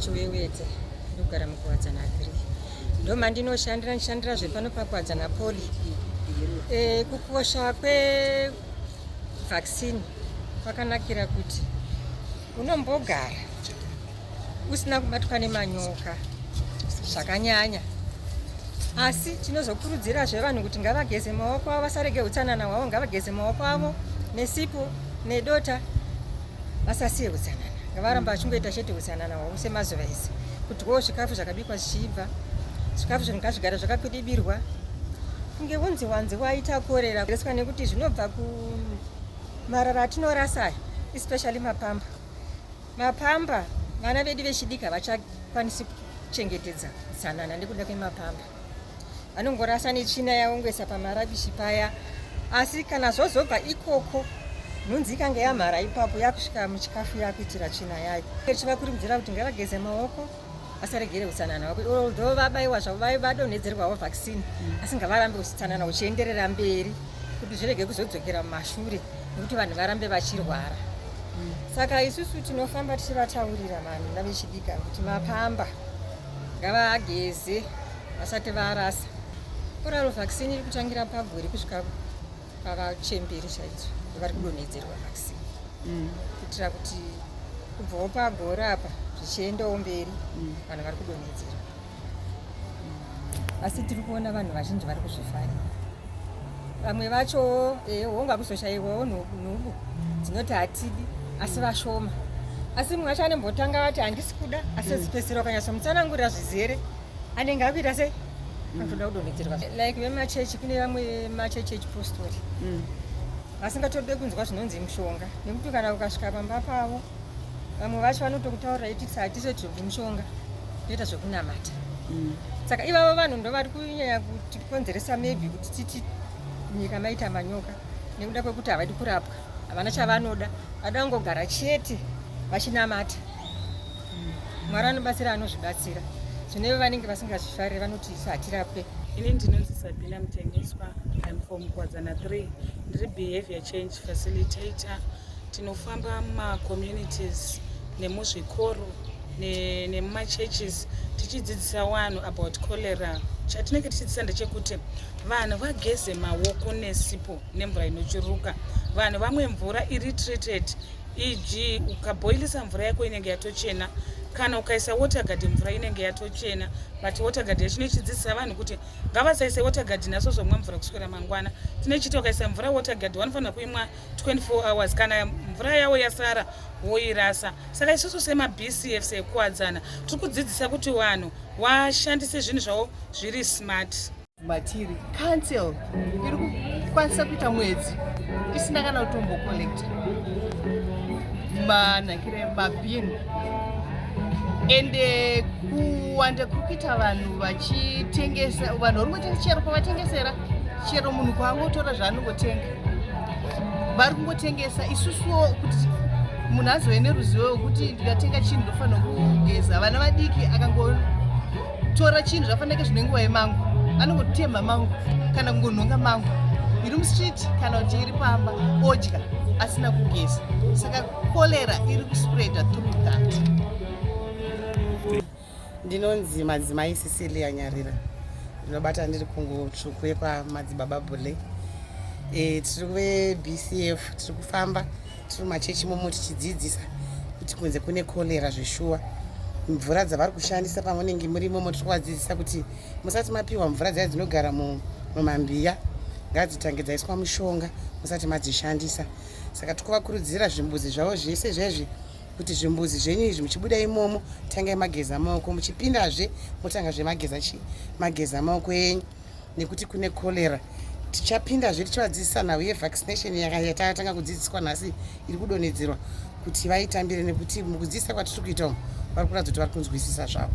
chiwewedza ndogara mukuwadzana agri ndomandinoshandira ndishandira zvepano pakuwadzana poli e, kukosha vaccine kwakanakira kuti unombogara usina kubatwa nemanyoka zvakanyanya asi tinozokurudzirazve vanhu kuti ngavageze maoko avo vasarege utsanana hwavo ngavageze maoko avo nesipo nedota vasasiye hutsanana ngavaramba vachingoita chete hutsanana hwavo semazuva ese kudyawo zvikafu zvakabikwa zvichiibva zvikafu zvinhu ngazvigara zvakakwidibirwa kunge vunzi wanzi waita korera reswa nekuti zvinobva kumarara atinorasa aya especially mapamba mapamba vana vedu vechidiki havachakwanisi kuchengetedza utsanana nekuda kwemapamba vanongorasa netsvina yaongesa pamarabishi paya asi kana zvozobva ikoko nhunzi ikange yamhara ipapo yakusvika muchikafu yakuitira tsvina yayo chiva kurudzira kuti ngavageze maoko vasaregere utsanana hwako although vabaiwa zvavo vave vadonhedzerwawo vaccine asi ngavarambe utsanana uchienderera mberi kuti zvirege kuzodzokera mumashure nekuti vanhu varambe vachirwara saka isusu tinofamba tichivataurira vanhu navechidika kuti mapamba ngavageze vasati varasa koraro vaccine iri kutangira pagore kusvika pavachemberi chaidzo vari kudonhedzerwa vaccine mm. kuitira kuti kubvawo pagore apa zvichiendawo mberi mm. vanhu vari kudonhedzerwa mm. asi tiri kuona vanhu vazhinji vari kuzvifarira vamwe vacho eh, hongu akuzoshaiwawo nhubu dzinoti hatidi asi vashoma asi mumwe wacho anembotanga vati handisi kuda asi zipesera ukanyasomutsanangurira zvizere anenge akuita se akutoda mm. kudonhedzerwa like vemachechi kune vamwe machechi echipostori mm. vasingatode kunzwa zvinonzi mushonga nekuti kana ukasvika pamba pavo vamwe vacho vanotokutaurira iti hatise zvekuti mushonga toita zvekunamata mm. saka ivavo vanhu ndo vari kunyanya kuti Konzeresa maybe kuti titi nyika maita manyoka nekuda kwekuti havadi kurapwa havana chavanoda vada kungogara chete vachinamata hmm. mwari anobatsira anozvibatsira zvineve vanenge vasingazvifarire vanoti isu hatirapwe ini ndinonzi sabina mutengeswa im from kwadzana 3 ndiri behavior change facilitator tinofamba mumacommunities nemuzvikoro nemumachurches tichidzidzisa vanhu about cholera chatinenge tichidzidzisa ndechekuti vanhu vageze maoko nesipo nemvura inochuruka vanhu vamwe mvura iri treated eg ukabhoilisa mvura yako inenge yatochena kana ukaisa watergard mvura inenge yatochena but watergard yacho inochidzidzisa vanhu kuti ngavasaise watergard naso zomwa mvura kuswera mangwana tinochiti ukaisa mvura watergard vanofanira kuimwa 24 hours kana mvura yavo yasara woirasa saka isusu semabcf sekuwadzana tiri kudzidzisa kuti vanhu washandise zvinhu zvavo zviri smart matiri council iri kukwanisa kuita mwedzi isina kana kutombocollecta manakire mabin and eh, kuwanda kuri kuita vanhu vachitengesa vanhu vari kutenga chero pavatengesera chero munhu kwaangotora zvaanongotenga vari kungotengesa isusuwo kuti munhu azove neruzivo wekuti ndikatenga chinhu ndofanira kugeza vana vadiki akangotora chinhu zvafanake zvine nguva yemangu anongotemha mangu kana kungonhonga mangu iri mustreet kana kuti iri pamba odya asina kugeza saka cholera iri kuspreada through that Ndinonzi madzimai Cecilia Nyarira, ndinobata ndiri kungo tsvuku yekwamadzibaba Bule. E, tiri veBCF, tiri kufamba tiri mumachechi momo tichidzidzisa kuti kunze kune kolera zveshuwa mvura dzavari kushandisa pamunenge muri momo tiri kuvadzidzisa kuti musati mapiwa mvura dzaya dzinogara mumambiya ngadzitange dzaiswa mushonga musati madzishandisa saka tiri kuvakurudzira zvimbuzi zvavo zvese zvezvi kuti zvimbuzi zvenyu izvi muchibuda imomo tangai mageza maoko muchipindazve motanga zvemageza chii mageza maoko enyu nekuti kune cholera tichapindazve tichivadzidzisa nhau yevaccination yatatanga kudzidziswa nhasi iri kudonhedzerwa kuti vaitambire nekuti mukudzidzisa kwatiri kuita umu vari kuratidza kuti vari kunzwisisa zvavo